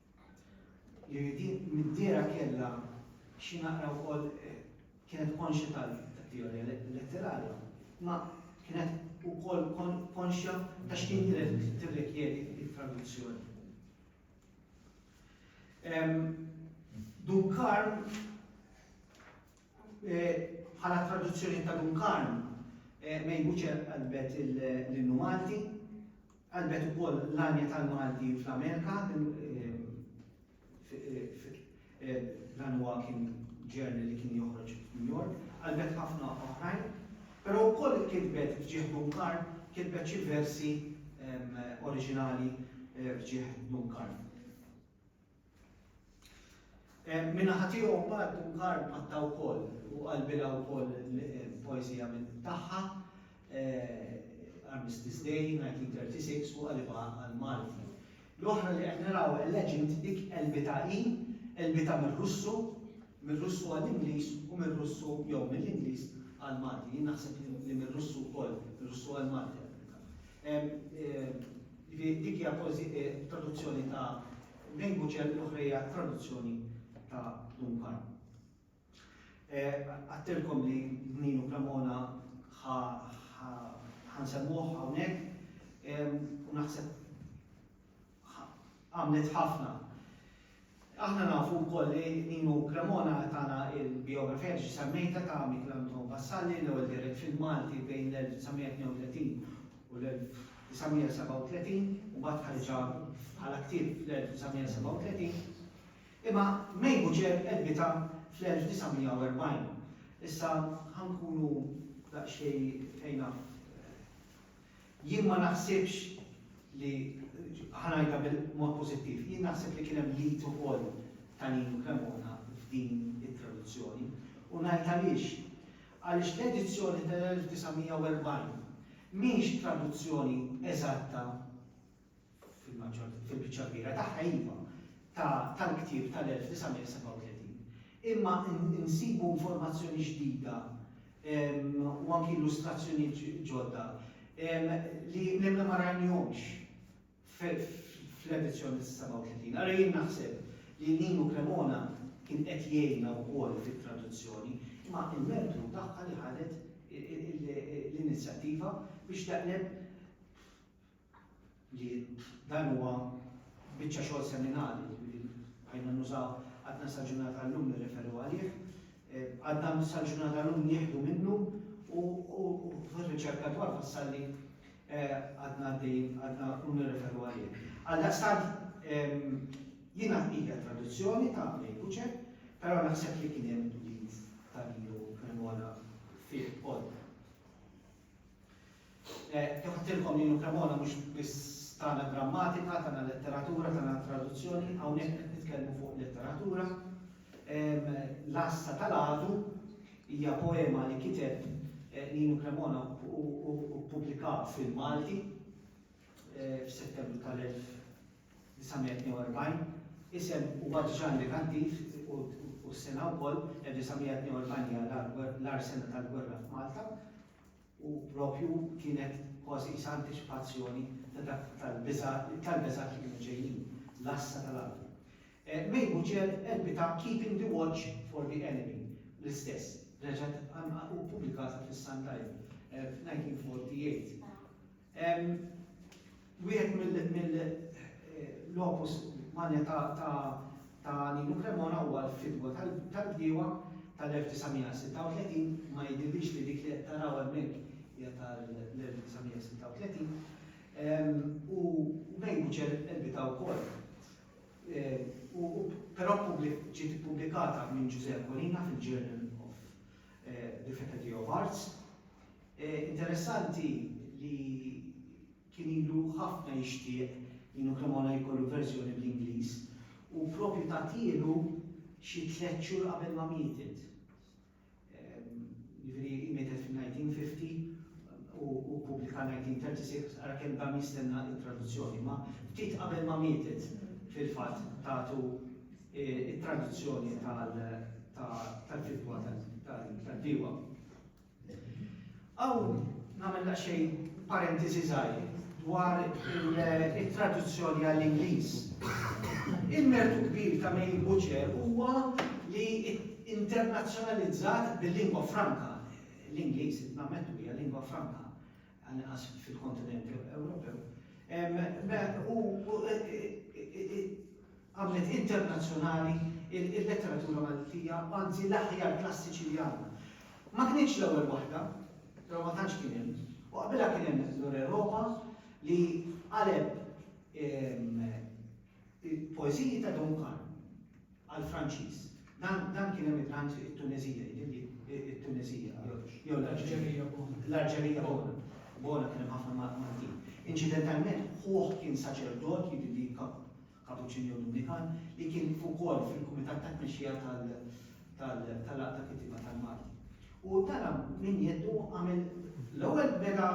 Li din mid-dehra kellha xi naqra wkoll kienet konxja tat-teorija letterarja, imma kienet ukoll konxja ta' x'kien tirrikjedi t-traduzzjoni. Dun Karl Bħala traduzzjoni ta' Dun Karm, May Butcher qalbet l-innu Malti, qalbet ukoll l-għanja tal-Malti fl-Amerika, dan huwa kien journal li kien joħroġ f'New York, qalbet ħafna oħrajn, però wkoll kitbet f'ġieħ Dun Karm, kitbet xi versi oriġinali f'ġieħ Dun Karm. Min-naħa tiegħu mbagħad Dunkar mpatta wkoll u qalbilha wkoll poeżija minn tagħha Armistice Day 1936 u qalibha għall-Malti. L-oħra li qed naraw a legend dik qelbitha hi, qelbitha mir-Russu, mir-Russu għall-Ingliż u mir-Russu jew mill-Ingliż għall-Malti. Jien naħseb li mir-Russu wkoll, mir-Russu għall-Malti qelbitha. Jiġifieri dik hija traduzzjoni ta' minn Buċell u l-oħra hija traduzzjoni ta' Duncan. Għattilkom li Ninu Cremona ħa nsemmuh hawnhekk u naħseb għamlet ħafna. Aħna nafu wkoll li Nino Cremona tana l-bijografija diġa semmejtha ta' Michael Anton Vassalli, l-ewwel dirett film Malti bejn l-1932 u l-1937, u mbagħad ħariġha bħala ktieb fl-1937. Imma May Butcher għelbitha fl-1940. Issa ħa nkunu daqsxejn ejna Jien ma naħsibx li, ħa ngħidha b'mod pożittiv, jien naħseb li kien hemm l-id ukoll ta' Nino Cremona f'din it-traduzzjoni. U ngħid għaliex. Għaliex l-edizzjoni tal-1940 mhix traduzzjoni eżatta fil-biċċa l-kbira tagħha iva, tal-ktieb tal-1937, imma insibu informazzjoni ġdida u anki illustrazzjonijiet ġodda li nemmel ma rajnihomx fl-edizzjoni tas-37. Allura jien naħseb li Nino Cremona kien qed jgħinna wkoll fit-traduzzjoni, imma l-mertu hu tagħha li ħadet l-inizjattiva biex taqleb li dan huwa biċċa xogħol seminali, jiġifieri bqajna nużaw, għadna sal-ġurnata tal-lum nirreferu għalih, għadna sal-ġurnata tal-lum nieħdu minnu u fir-riċerka dwar Vassalli għadna għaddejjin għadna u nirreferu għalih. Għaldaqstant jiena hija traduzzjoni ta' Andrej Buċe, però naħseb li kien hemm ulied ta' Nino Cremona fih ukoll. Kif għedtilkom jien u Cremona mhux biss tagħna grammatika, tagħna letteratura, tagħna traduzzjoni, hawnhekk qed nitkellmu fuq letteratura. L-Għassa tal-Għadu hija poema li kiteb Ninu Cremona u ppubblika fil-Malti f'Settembru tal-1942. Isem huwa diġà indikattiv u s-sena wkoll 1942 hija l-agħar sena tal-gwerra f'Malta. u proprju kienet kważi qisha antiċipazzjoni ta' dak tal-biżgħat li kienu ġejjin, l-għassa tal-għadu. May Buchel għelbitha Keeping the Watch for the Enemy, l-istess, reġgħet u ppubblikata fis-Sun Dial fl-1948. Wieħed mill-opus magna ta' Nino Cremona huwa l-Fidwa tal-Bdiewa tal-1936, ma jidhirlix li dik li qed taraw hemmhekk hija tal-1936, u May Bucel qelbitha wkoll. Però ġiet ippubblikata minn Ġużè Akolina fil-Journal of the Faculty of Arts. Interessanti li kien ilu ħafna jixtieq li Nino Cremona jkollu verżjoni bl-Ingliż u propju tatielu xi tliet xhur qabel ma mietet. Jiġifieri hi mietet fil-1950 u ppubblika 1936 ara kemm dam jistenna t-traduzzjoni imma ftit qabel ma mietet fil-fatt tatu t-traduzzjoni tal-kitba tal-bdiewa. Hawn nagħmel daqsxejn parentesi żgħir dwar it-traduzzjoni għall-Ingliż. Il-mertu kbir ta' Mail Butcher huwa li internazzjonalizzat bil-lingwa franka, l-Ingliż, nammettu, hija lingwa franka, għall-inqas fil-kontinent Ewropew, u għamlet internazzjonali l-letteratura Maltija, anzi l-aħjar klassiċi li għandna. Ma kinitx l-ewwel waħda, però ma tantx kien hemm, u qabilha kien hemm L'Oreropa li qaleb Il-poeżiji ta' Duncan għall-Franċiż. Dan dan kien emigrant it-Tuneżija, jidhirli it-Tuneżija jew l-Alġerija. L-Alġerija bona. Bona kien hemm ħafna Maltin. Inċidentalment ħuh kien saċerdot, jidhirli Kapuċċin jew Dominikan, li kien ukoll fil-kumitat ta' tmexxija tal- tal-Għaqda Kittieba tal-Malti. U tara minn jeddu għamel l-ewwel beda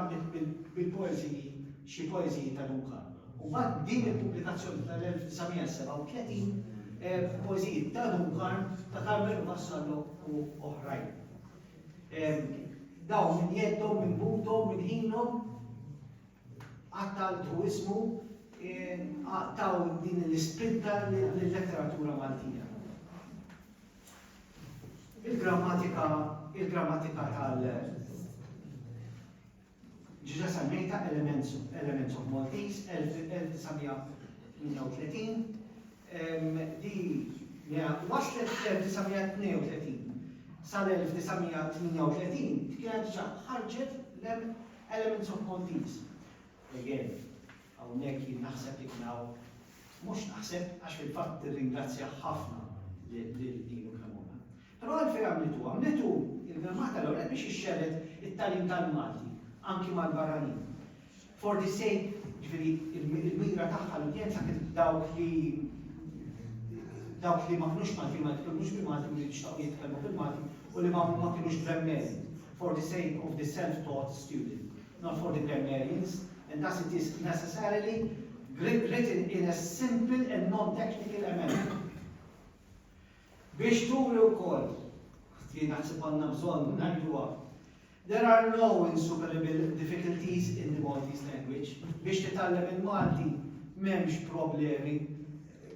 bil-poeżiji, xi poeżiji ta' Dun Karlu. U mbagħad b'din il-pubblikazzjoni tal-1937, poeżiji ta' Dun Karm, ta' Karmelu Vassallo u oħrajn. Dawn minn jeddhom, minn buthom, minn ħinhom, Qattaltu ismu, taw din l-ispinta lil-letteratura Maltija. Il-grammatika, il-grammatika tal. Diġa semmejtha Elements, Elements of Maltese, 1938, li waslet fl-1932. Sal-1938 kienet diġa ħarġet l-M. Elements of Maltese, again, hawnhekk jien naħseb li kien hawn, mhux naħseb għax fil-fatt nirringrazzja ħafna lil Dino Cremona. Però għalfejn għamlitu? Għamlitu il-Gramma tal-Ewrep biex ixxerred it-tagħlim tal-Malti anki mal-barranin. For the sake, ġifieri il-mira tagħha l-udjenza kienet dawk li dawk li ma kinux Maltin ma jitkellmux bil-Malti u li jixtaqu jitkellmu bil-Malti u li ma kinux b'remmel. For the sake of the self-taught student, not for the grammarians, and thus it is necessarily written in a simple and non-technical amendment. Biex turi wkoll, li naħseb għandna bżonn ngħiduha, there are no insuperable difficulties in the Maltese language. Biex titgħallem il-Malti m'hemmx problemi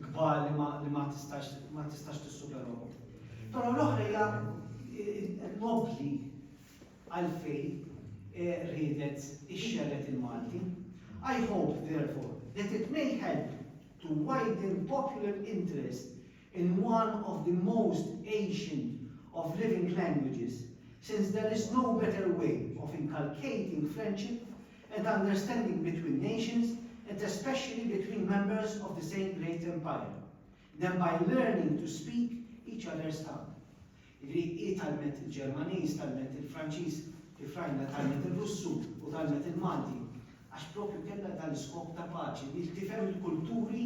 kbar li ma li ma tistax ma tistax tissuperahom. Però l-oħra hija nobbli għalfejn eh, riedet ixxerred il-Malti. I hope, therefore, that it may help to widen popular interest in one of the most ancient of living languages, since there is no better way of inculcating friendship and understanding between nations and especially between members of the same great empire than by learning to speak each other's tongue. Jiġifieri hi tgħallmet il-Ġermaniż, tgħallmet il-Franċiż, Ifrajna tgħallmet ir-Russu u tgħallmet il-Malti għax propju kellha dan l-iskop ta' paċi li tifhem il-kulturi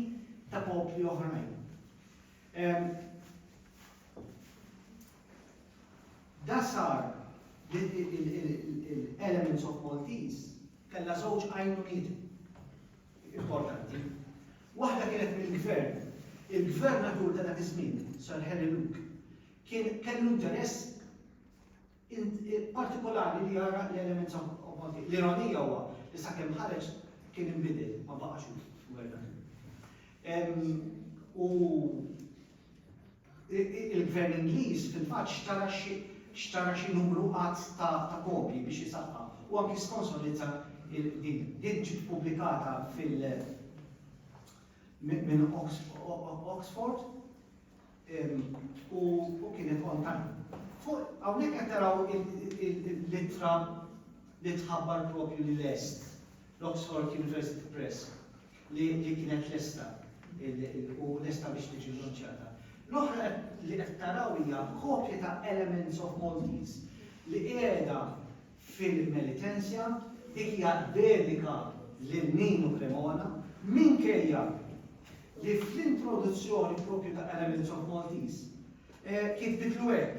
ta' popli oħrajn. Da sar li l-Elements of Maltese kellha żewġ għajnuniet importanti. Waħda kienet mill-gvern. Il-gvernatur ta' dak iż-żmien, Sir Harry Luke, kien kellu interess partikolari li jara l-Elements of Maltese. L-ironija huwa li sakemm ħareġ kien inbidel ma baqax gvernatur. U Il-Gvern Ingliż fil-fatt xtara xi xtara xi numru għadd ta' ta' kopji biex isaħħaħ u anki sponsorizza il din. Din ġiet pubblikata fil minn Oxford u u kienet on time. Fuq hawnhekk qed taraw l-ittra li tħabbar propju lil est, l-Oxford University Press. li kienet lesta u lesta biex tiġi llunċjata. L-oħra li qed taraw hija kopja ta' Elements of Maltese li qiegħda fil-Melitensja, dik hija dedika lil Nino Cremona, minkejja li fl-introduzzjoni propju ta' Elements of Maltese kitbitlu hekk.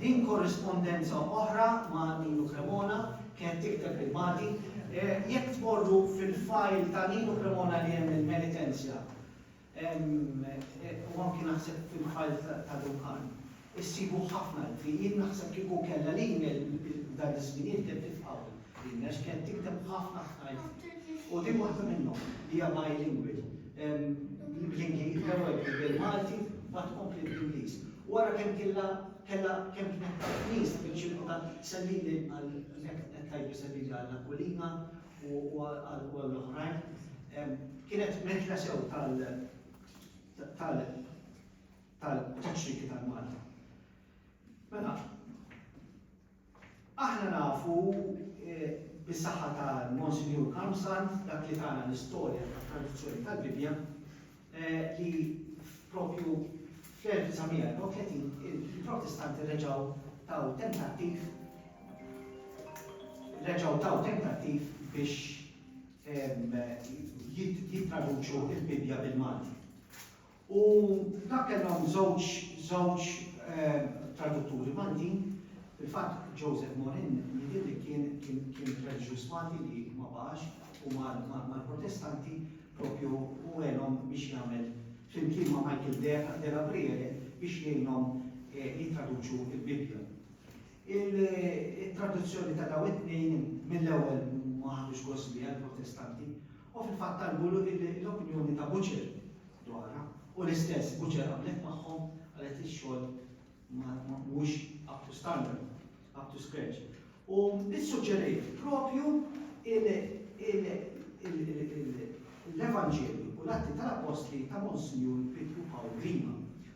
In korrispondenza oħra ma' Ninu Cremona kienet tikteb lil Mati, Jekk tmorru fil-file ta' Ninu Cremona li hemm il-Penitenzja, u anki naħseb fil-file ta' Duncan, issibu ħafna ittri. Jien naħseb kieku kellha l-email f'dan iż-żmien jien ktibt it hawn. Din għax kienet tikteb ħafna ħafna itri. U din waħda minnhom li hija bilingual. L-ewwel bil-Malti, mbagħad kompliet bl-Ingliż. U ara kemm killa kellha kemm kienet taf nies biex jilqgħu sellili għal hekk qed tgħidlu sellili għal Aquilina u għal oħrajn. Kienet meħla sew tal tal tal-taċċriki tal-Malta. Mela, Aħna nafu bis-saħħa ta' Monsinjur Karmsand, dak li tana l-istorja tat-traduzzjoni tal-Bibbja, li propju fl-1934 il-Protestanti reġgħu taw tentattiv reġgħu taw tentattiv biex jittraduċu l-Bibbja bil-Malti. U f'dak kellhom żewġ żewġ tradutturi Maltin, fil-fatt Joseph Morin jidhirli kien kien kien reliġjuż Malti li ma baqax u mar mar mal-Protestanti proprju u għenhom biex jagħmel flimkien ma' Michael de de la Briere biex jgħinhom jittraduċu l-Bibbja. Il it-traduzzjoni ta' dawn it-tnejn mill-ewwel ma ħadux gost biha l-Protestanti u fil-fatt talbu l-opinjoni ta' Butcher dwarha u l-istess Butcher qablet magħhom, qalet li x-xogħol mhuwiex up to standard, up to scratch. U ssuġġeriet propju l-Evanġelju u l-Atti tal-Appostli ta' Monsinjur Pietru Pawl Grima.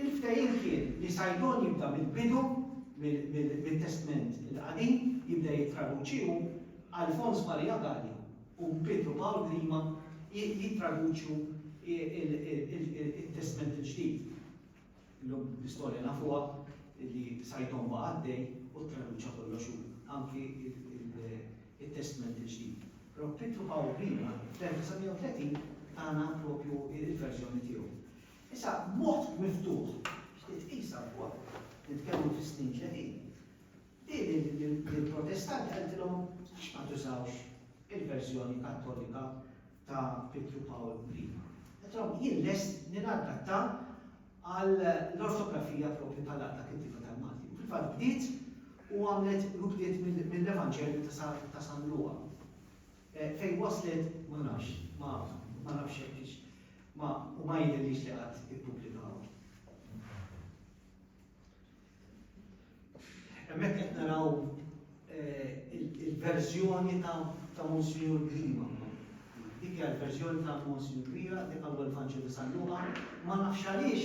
Il-ftehim kien li Saidon jibda mill-bidu, mit-Testment il-Qadim, jibda jittraduċi u Alfons Maria Galli u Pietru Pawl Grima jittraduċu t-Testment il-Ġdid. Illum l-istorja nafuha li Saidon baqa' għaddej u ttraduċa kollox hu, anki t-Testment il-Ġdid. Però Pietru Pawl Grima fl-1930 tana proprju l-verżjoni tiegħu. Issa, b'mod miftuħ, xtieq tqisha wkoll, nitkellmu fi snin ġejjin, hi li l-Protestanti qaltilhom għax ma tużawx il-verżjoni Kattolika ta' Pietru Pawl I. Qaltilhom jien lest li nadatta għall-ortografija proprju tal-Għaqda Kittieba tal-Malti. U fil-fatt bdiet u għamlet u bdiet mill-Evanġelju ta' San Luqa. Fejn waslet ma nafx, ma ma nafx jekk hix ma u ma jidhirlix li qatt ippubblikawha. Hemmhekk qed naraw il-verżjoni ta' Monsinjur Grima. Dik hija l-verżjoni ta' Monsinjur Grima, dik għal Evanġelju San Luqa. Ma nafx għaliex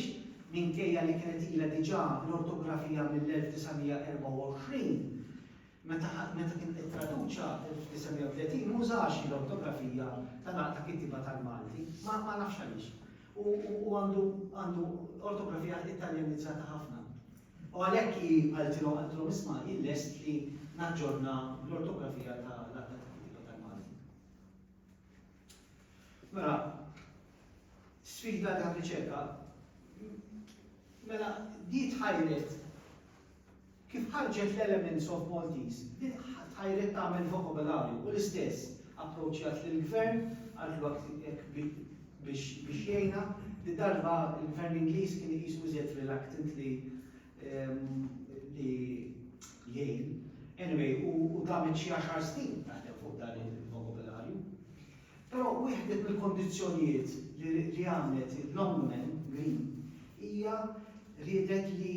minkejja li kienet ilha diġà l-ortografija mill-1924, Meta meta kien ittraduċa fl-1930 ma użax l-ortografija ta' naqta kittieba tal-Malti, ma ma nafx għaliex. U u għandu għandu ortografija Italjanizzata ħafna. U għalhekk hi qaltilhom qaltilhom isma' jien lest li naġġorna l-ortografija ta' naqta kittieba tal-Malti. Mela, sfida ta' riċerka, mela di tħajret Kif ħarġet l-Elements of Maltese, bdiet ħajret tagħmel vokabolarju u l-istess approċċjat lill-Gvern, qaltlu hekk hekk bi biex biex jgħinha. Did-darba l-Gvern Ingliż kien iqisu iżjed reluctant li li jgħin. Anyway, u damet xi għaxar snin taħdem fuq dan il-vokabolarju. Però wieħdet mill-kondizzjonijiet li għamlet l-Ombumen Green hija riedet li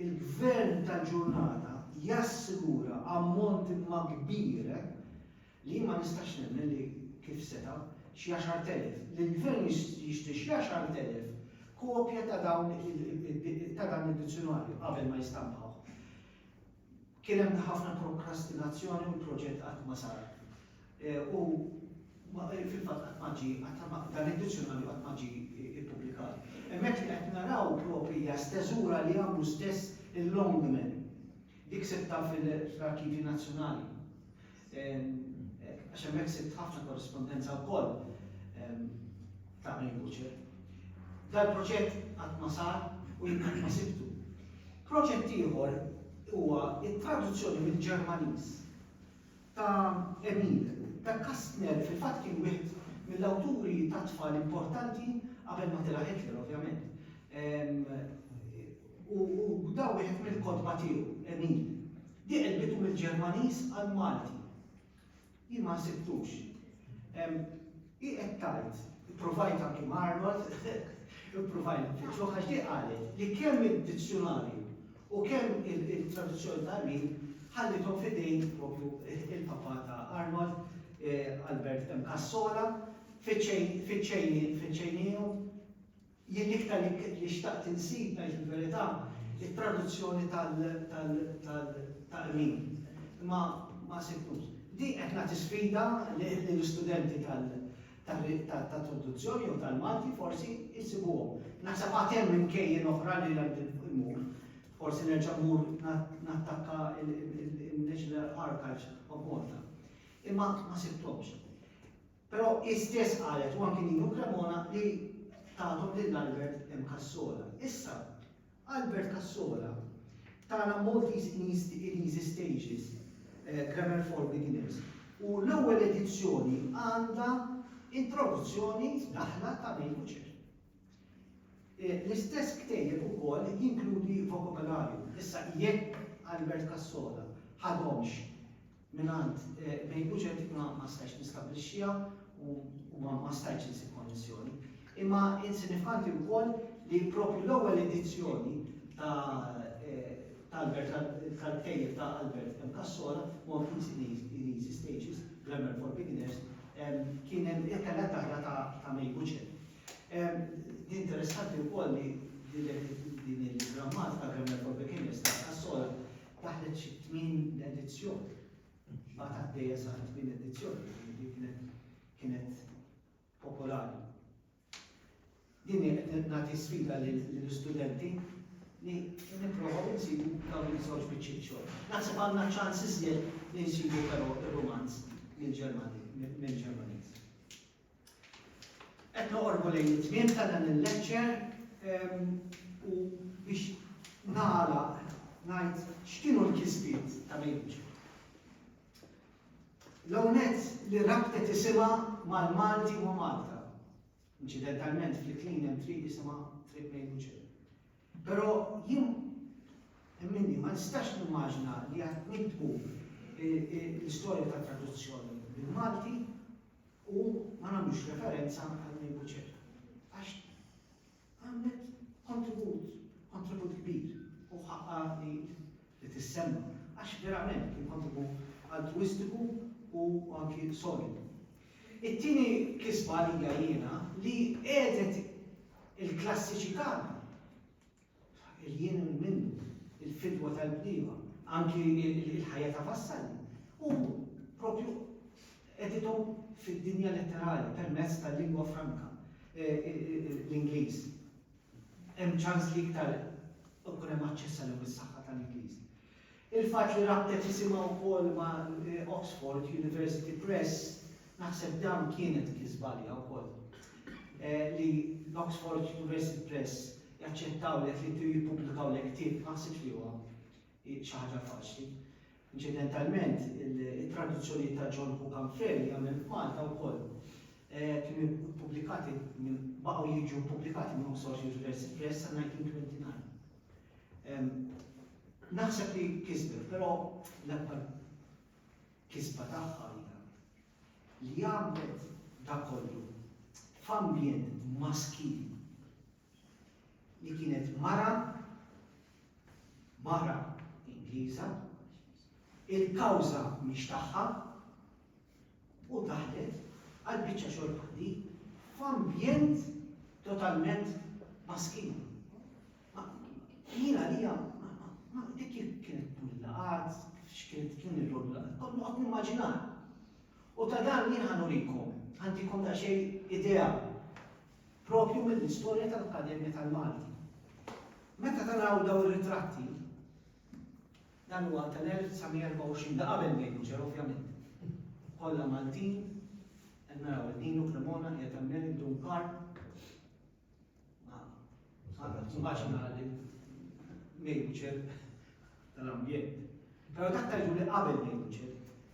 l-Gvern tal-ġurnata jassigura ammont imma kbir, li jien ma nistax nemmen li kif seta', xi għaxart elef, li l-Gvern jixtri xi għaxart elef kopja ta' dan id-dizzjunarju qabel ma jistampawh. Kien hemm ħafna prokrastinazzjoni u l-proġett qatt ma sar. U fil-fatt qatt ma ġie, dan id-dizzjonarju qatt ma ġie ippubblikat. Hemmhekk li qed naraw proprji hija steżura li għamlu stess il-Longman. Dik sibtha fl-Arkivji Nazzjonali. Għax hemmhekk sibt ħafna korrispondenza wkoll ta' Green Butcher. Dal-proġett qatt ma sar u jien qatt ma sibtu. Proġett ieħor huwa t-traduzzjoni mill-Ġermaniż ta' Emil. Dak Kastner fil-fatt kien wieħed mill-awturi tat-tfal importanti qabel ma tela' Hitler ovvjament. U bda wieħed mill-kotba tiegħu, Emil, li qelbitu mill-Ġermaniż għall-Malti. Jien ma ħsibtux. Hi qed tgħid, ippruvajt anki ma' Arnold, ippruvajt nfittxu għax di qalet li kemm id-dizzjunarju u kemm il-traduzzjoni ta' Emil ħallithom f'idejn propju il-papà ta' Arnold, eh, Albert M. Cassola, fiċ-ċejniju. Jien l-iktar li xtaqt insib, ngħid il-verità, it-traduzzjoni tal-Taqrib, imma ma sibtux. Din qed nagħti sfida lill-istudenti tat-traduzzjoni jew tal-Malti forsi jsibuhom. Naħseb għad hemm imkejjen oħra li għandi mmur. Forsi nerġa' mmur nattakka il-National Archives of Malta. Imma ma sibthomx. Però hi stess qalet u anki Nino Cremona li tathom lil Albert M. Cassola. Issa, Albert Cassola tana Maltese in Easy Stages, Grammar for Beginners u l-ewwel edizzjoni għandha introduzzjoni, daħla, ta' May Butcher. L-istess ktejjeb ukoll jinkludi vokabolarju. Issa jekk Albert Cassola ħadhomx mingħand May Bucenti ma stajtx nistabbilixxiha u ma stajtx insib konnessjoni. Imma sinifikanti wkoll li proprju l-ewwel edizzjoni tal-ktejjeb ta' Albert M. Cassola, More Easy Names in Easy Stages, Grammar for Beginners, kien hemm kellha d-dahra ta' May Bucenti. Interessanti wkoll li din il-grammatika Grammar for Beginners ta' Cassola daħlet xi tmien edizzjoni. Baqgħet għaddejja sa tmien edizzjoni, li kienet kienet popolari. Din hi qed nagħti sfida lill-istudenti li nipprovaw insibu dawn iż-żewġ biċċiet xogħol. Naħseb għandna ċans iżjed li nsibu però ir-rumanz mill-Ġermani, mill-Ġermaniż. Qed noqorbu lejn it-tmiem ta' dan il-lecture u biex nagħlaq ngħid x'kienu l-kisbiet ta' Mejju. L-ewwel nett li rabtet isimha mal-Malti u ma' Malta. Inċidentalment fl-Iklin hemm triq isimha Triq Mejju Ġill. Però jien minni ma nistax nimmaġina li qed niktbu l-istorja tat-traduzzjoni bil-Malti u ma nagħmlux referenza għall-lingwa Ċeka. Għax għamlet kontribut, kontribut kbir u ħaqqa li li tissemma. Għax verament kien kontribut altruistiku u anki solidu. It-tieni kisba li jiena li qegħdet il-klassiċità li jien minnu il-fidwa tal-bniema, anki il-ħajja ta' Vassalli, u propju edithom fid-dinja letterali permezz tal-lingwa franka, e, e, e, l-Ingliż. Hemm ċans li iktar ikun hemm aċċess għalihom is-saħħa tal-Ingliż. Il-fatt li rabtet isimha wkoll ma' Oxford University Press, naħseb dan kienet kisba għaliha wkoll. Li l-Oxford University Press jaċċettawlek li jippubblikawlek ktieb ma ħsibx li huwa xi ħaġa faċli. Inċidentalment, it-traduzzjonijiet ta' John Hook Humphrey li għamel f'Malta wkoll kienu ppubblikati minn, baqgħu jiġu ppubblikati minn Oxford University Press sa 1929. Naħseb li kisbet, però l-akbar kisba tagħha hija li għamlet dak kollu f'ambjent maskil li kienet mara, mara Ingliża, il-kawża mhix tagħha, u daħlet għal biċċa xogħol bħal di f'ambjent totalment maskin. Jiena li ma dik kienet pullaqat, x'kienet kien ir-roll, kollu qed nimmaġinar. U ta' dan jien ħanurikom, għandikom ta' xej idea propju mill-istorja tal-Akkademja tal-Malti. Meta taraw daw ir-ritratti, Dan huwa tal-1924, ta' qabel Dave Kuċer ovvjament. Kollha Maltin, qed naraw lil Nino Cremona qiegħed hemmhekk, Dun Karp. Ma nibqax nara lil Dave Kuċer tal-ambjent. Però dak ta' juri qabel Dave Kuċer.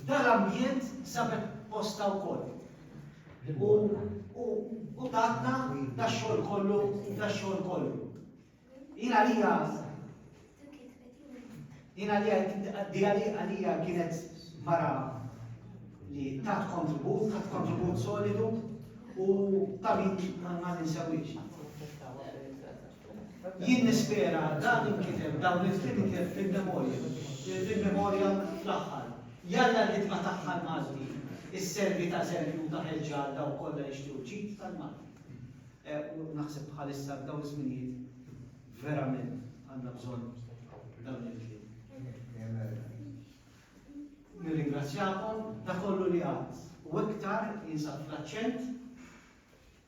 F'dan l-ambjent sabet postha wkoll. U u u tatna dax-xogħol kollu, dax-xogħol kollu. Jien għalija jien għalija di għalija kienet mara li tat kontribut, tat kontribut solidu u ta' min ma ninsewix. Jien nispera dan inkiteb, dawn il-kliem inkiteb fil-memorja, il-memorja fl-aħħar. Jalla l-ħidma tagħha l-Malti isservi ta' eżempju u ta' ħeġġa għal dawk kollha li jixtiequ l-ġid tal-Malti. U naħseb bħalissa f'dawn iż-żminijiet verament għandna bżonn dawn il-kliem. Nirringrazzjakom, dak kollu li għad u iktar jinsab fl-aċċent.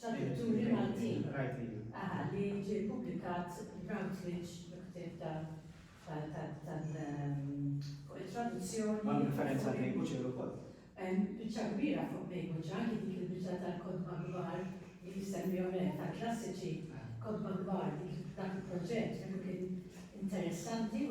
Tradutturi Maltin. Aha, li ġie ppubblikat Routledge ktieb ta' tal-traduzzjoni. Ma' referenza lejn Buċer ukoll. Biċċa kbira fuq lejn Buċer, anki dik il-biċċa tal-kodba kbar li jissemmihom hekk tal-klassiċi, kodba kbar dik dak il-proġett, dak kien interessanti u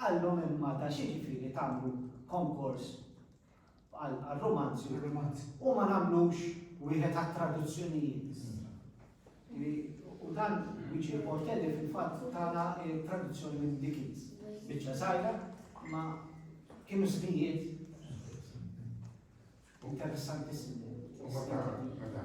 Qalhom imma ta' x'jiġifieri tagħmlu konkors għal għar-rumanzi u ma nagħmlux wieħed għat-traduzzjonijiet. Li u dan Luigi Portelli fil-fatt tagħna traduzzjoni minn Dickens. Biċċa żgħira ma kienu żmijiet interessantissimu. U ma ta' ta'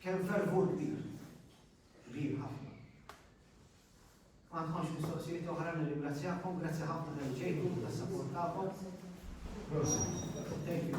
Kemm fervur kbir. Kbir ħafna. Ma għandkomx mistoqsijiet oħra nirringrazzjakom, grazzi ħafna tal ġejtu tas sapport tagħkom. Thank you.